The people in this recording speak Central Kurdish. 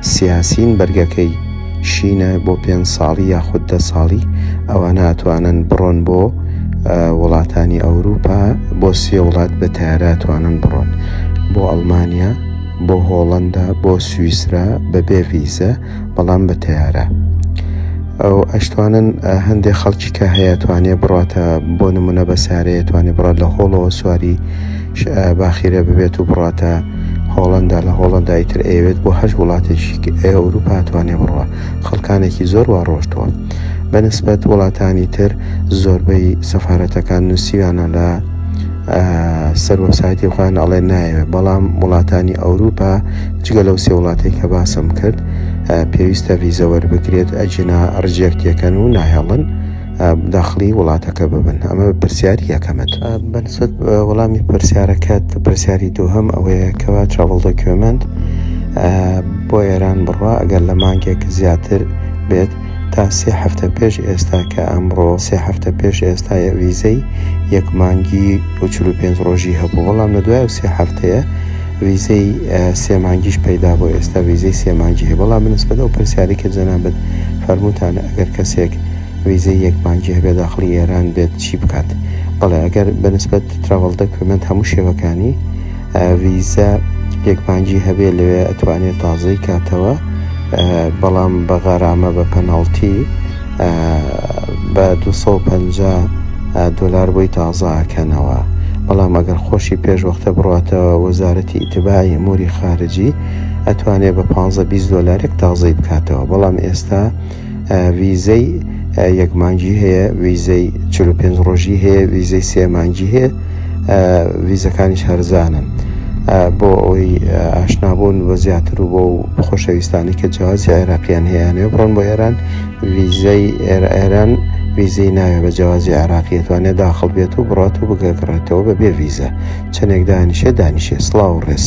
سیاسین بەرگەکەی شینە بۆ پێنج ساڵی یاخود دە ساڵی ئەوانە ئەتوانن بڕۆن بۆ وڵاتانی ئەوروپا بۆ سێ وڵات بە تارە توانن بڕۆن بۆ ئەڵمانیا بۆ هۆڵندا بۆ سوئیسرا بە بێ ویزە بەڵام بە تارە ئەو ئەشتوانن هەندێک خەڵکی کە هەیە توانێ بڕاتە بۆ نمونە بە سارەیە توانێ بڕات لە هۆڵەوە سواری باخیرە ببێت و بڕاتە هۆڵندا لە هۆڵندا ئیتر ئەوێت بۆ هەر وڵاتێکی ئەوروپا توانێ بڕە خەڵکانێکی زۆر وا ڕۆشتووە بە نسبەت وڵاتانی تر زۆربەی سەفاەتەکان نووسیویانە لە سەر وەسایتی خۆیان ئەڵێ نایەوێت بەڵام وڵاتانی ئەوروپا جگە لەو سێ وڵاتی کە باسم کرد پێویستە ویزەوەر بکرێت ئەجینا ڕجێکتەکەن و ناهێڵن داخلی وڵاتەکە ببن ئەمە پرسیاری یەکەمت بەسەد وەڵامی پرسیارەکەت پرسیاری دووهم ئەوەیە کەوا تراڤڵ دۆکیۆمنت بۆ ئێران بڕوا ئەگەر لە مانگێک زیاتر بێت تا سێ هەفتە پێش ئێستا کە ئەمڕۆ سێ هەفتە پێش ئێستا ویزەی یەک مانگی و پێنج ڕۆژی هەبوو بەڵام لە دوای و سێ هەفتەیە ویزەی سێ مانگیش پەیدا بۆ ئێستا ویزەی سێ مانگی هەیە بەڵام بنسبەت ئەو پرسیاری کە جەنابەت فەرمووتان ئەگەر کەسێک ڤیزەی یەک بانکی هەبێت داخڵی ئێران بێت چی بکات بەڵێ ئەگەر بە نسبەت تراڤڵ دەکومێنت هەموو شێوەکانی ڤیزە یەک بانکی هەبێت لەوێ ئەتوانێت تازەی کاتەوە بەڵام بە غەرامە بە پەناڵتی بە 250 دلار بۆی تازاکەنەوە بەڵام ئەگەر خۆشی پێش وەختە بڕاتەوە وەزارەتی ئیتبای موری خارجی ئەتوانێت بە 15 دلارێک تازەی بکاتەوە بەڵام ئێستا ویزەی یەک مانگی هەیە ویزەی 45 ڕۆژی هەیە ویزەی سێ مانگی هەیە ویزەکانیش هەرزانن بۆ ئەوی ئاشنابوون بە زیاتر و بۆ خۆشەویستانی کە جیازی عێراقییان هەیەیانێ بڕۆن بۆ ئێران ویزەی ئێران ویزەی ناوێ بە جیازی عراقیەتوانێت داخڵ بێت و بڕات و بگەگڕێتەوە بە بێ ویزە چەندێک دانیشێ دانیشێ سلااو ڕێز.